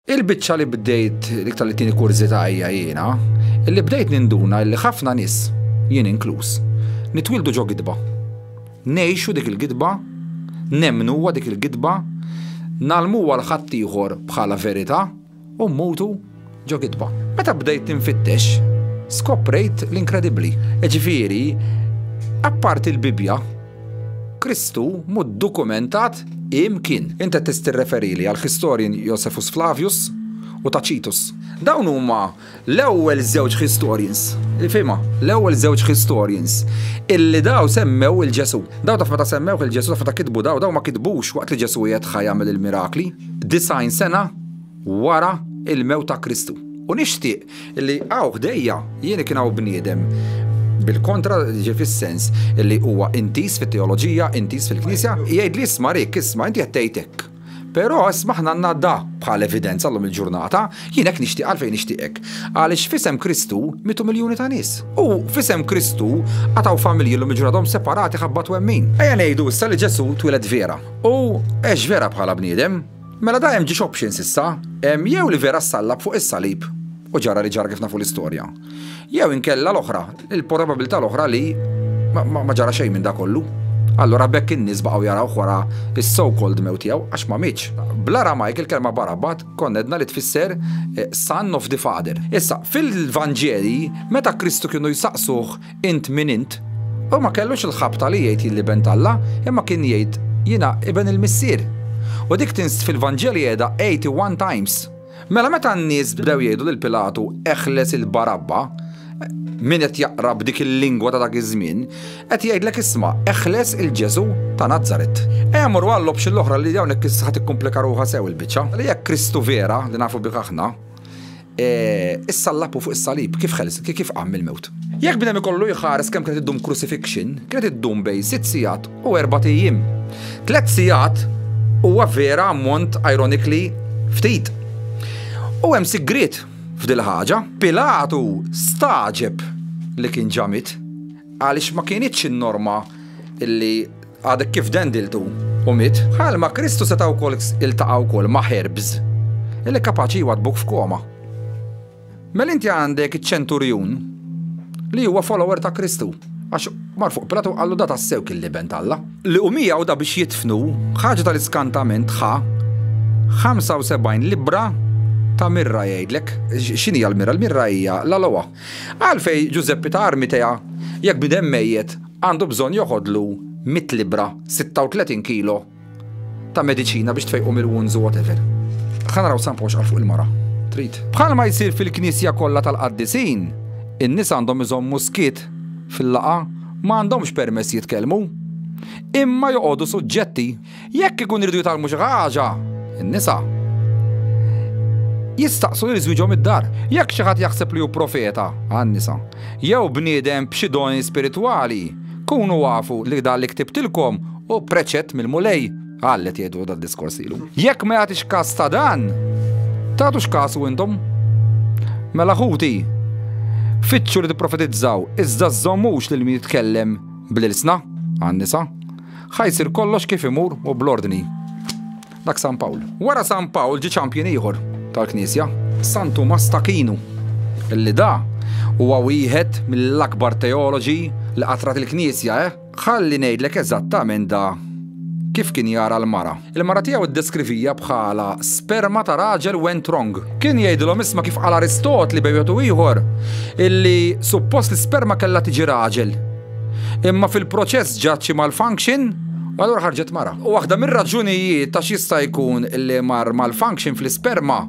Il-biċċa li bdejt li tallitini kurżità hija jiena li bdejt ninduna li ħafna nies, jien inkluż, nitwieldu ġo gidba. Ngħixu dik il-gidba, nemmnuha dik il-gidba, ngħallmuha 'l ħaddieħor bħala verità u mmutu ġo gidba. Meta bdejt ninfittex, skoprejt l-inkredibbli. Jiġifieri, apparti l-Bibbja, Kristu mhu ddukumentat imkien. Int qed tirreferili għall-historian Josephus Flavius u Tacitus. Dawn huma l-ewwel żewġ historians, ifhimha, l-ewwel żewġ historians illi daw semmew lil Ġesù. Daw taf meta semmewh lil Ġesù, taf meta kitbu daw, daw ma kitbux waqt li Ġesù qiegħed ħaj jagħmel il-mirakli, disgħin sena wara l-mewt ta' Kristu. U nixtieq Illi hawn ħdejja jien kien hawn bniedem, bil-kontra, jiġifieri fis-sens illi huwa intiż fit-teoloġija, intiż fil-Knisja, jgħidli isma' Rick, isma' inti qed tgħid hekk. Però isma' aħna għandna da bħal evidenza llum il-ġurnata, jien hekk nixtieq għalfejn nixtieqek. Għaliex f'isem Kristu mietu miljuni ta' nies. U f'isem Kristu għad hawn familji llum il-ġurnata għadhom separati ħabba twemmin. Ejja ngħidu issa li Ġesù twieled vera. U għex vera bħala bniedem. Mela da hemm ġiex options issa, hemm jew li vera ssallab fuq is-salib, u ġara li ġara kif nafu l-istorja, jew inkella l-oħra, il-porababilità l-oħra li ma ġara xejn minn da kollu. Allura bekk in-nies baqgħu jarawh wara is-so called mewt tiegħu għax ma mietx. Bl-Aramajk il-kelma Barabbat konna għedna li tfisser son of the father. Issa, fil-Vanġeli, meta Kristu kienu jsaqsuh Int min int? Hu ma kellux il-ħabta li jgħid jilli ben t'Alla, imma kien jgħid jiena iben il-Missier. U dik tinst fil-Vanġeli qiegħda 81 times. Mela meta n-nies bdew jgħidu lil Pilatu eħles il Barabba, min qed jaqra b'dik il-lingwa ta' dak iż-żmien, qed jgħidlek isma' eħles il Ġesu' ta' Nazaret. Ejja morru għall-option l-oħra li hawnhekk issa ħa tikkumplika ruħha sew il-biċċa. Jekk Kristu vera, li nafu bih aħna, E, issa l-lapu fuq is-salib kif ħels, kif qam mill-mewt. Jekk bnem ikollu jħares kemm kienet iddum crucifixion, kienet iddum bej sitt sigħat u erba' ijiem. Tliet sigħat huwa vera ammont ironically ftit. U hemm sigriet f'dil ħaġa. Pilatu staġeb li kien ġamit għaliex ma kienitx in-norma illi Għadek kif dendiltu u miet? Bħal ma Kristu seta' wkoll iltaqa' wkoll ma' ħerbs li kapaċi jwaddbuk f'koma. Mel inti għandek iċ-ċenturjun li huwa follower ta' Kristu għax mar fuq Pilatu qallu da tassew kien liben talla. Li u miegħu da biex jitfnu ħaġa tal-iskantament ħa 75 libra ta' mirra jgħidlek. X'inhi l-mirra? L-mirra hija l-alowa. Għalfej Ġużeppi ta' Armitea, jekk bniedem mejjet, għandu bżonn joħodlu mitt libbra, 36 kilo, ta' mediċina biex tfejqu mill-wounds u whatever? Ħa naraw Sampo x'qal fuq il-mara. Trid? Bħalma jsir fil-knisja kollha tal-qaddisin, in-nies għandhom iżommu skiet fil-laqgħa, ma għandhomx permess jitkellmu. Imma joqogħdu suġġetti. Jekk ikun iridu jitgħallmu xi ħaġa, in-nisa jistaqsu lil żwieġhom id-dar. Jekk xi ħadd jaħseb li hu profeta, għan-nisa, jew bniedem b'xi doni spiritwali, kunu afu li dan li ktibtilkom hu preċett mill-Mulej, qallet jgħidu dan diskors lilu. Jekk ma jagħtix każ ta' dan, tagħtux kasu intom. Mela ħuti, fitxu li tipprofetizzaw, iżda żommux lil min jitkellem bl-ilsna, għan-nisa. Ħa jsir kollox kif imur u bl-ordni. Dak San Pawl. Wara San Pawl ġie ċampjun ieħor tal-Knisja. San Tumas t'Aquinu, li da huwa wieħed mill-akbar teoloġi li qatrat il-Knisja, eh? Ħalli ngħidlek eżattament da kif kien jara l-mara. Il-mara tiegħu ddeskrivija bħala sperma ta' raġel went wrong. Kien jgħidilhom isma' kif qal Aristotli bejwet u ieħor illi suppost l-isperma kellha tiġi raġel. Imma fil-proċess ġat xi malfunction u allura ħarġet mara. U waħda mir-raġunijiet għax jista' jkun li mar malfunction fl-isperma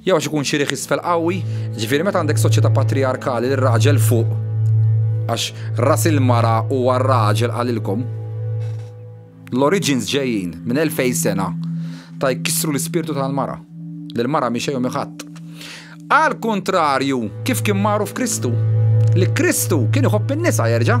jew għax ikun xi riħ isfel qawwi, ġifieri meta għandek soċjetà patrijarkali li r-raġel fuq għax ras il-mara huwa r-raġel qalilkom. L-oriġins ġejjin minn elfejn sena ta' jkissru l-ispirtu tal-mara, li l-mara mhi xejn u mhi ħadd. Għall-kuntrarju, kif kien magħruf Kristu, li Kristu kien iħobb in-nisa, jerġa'.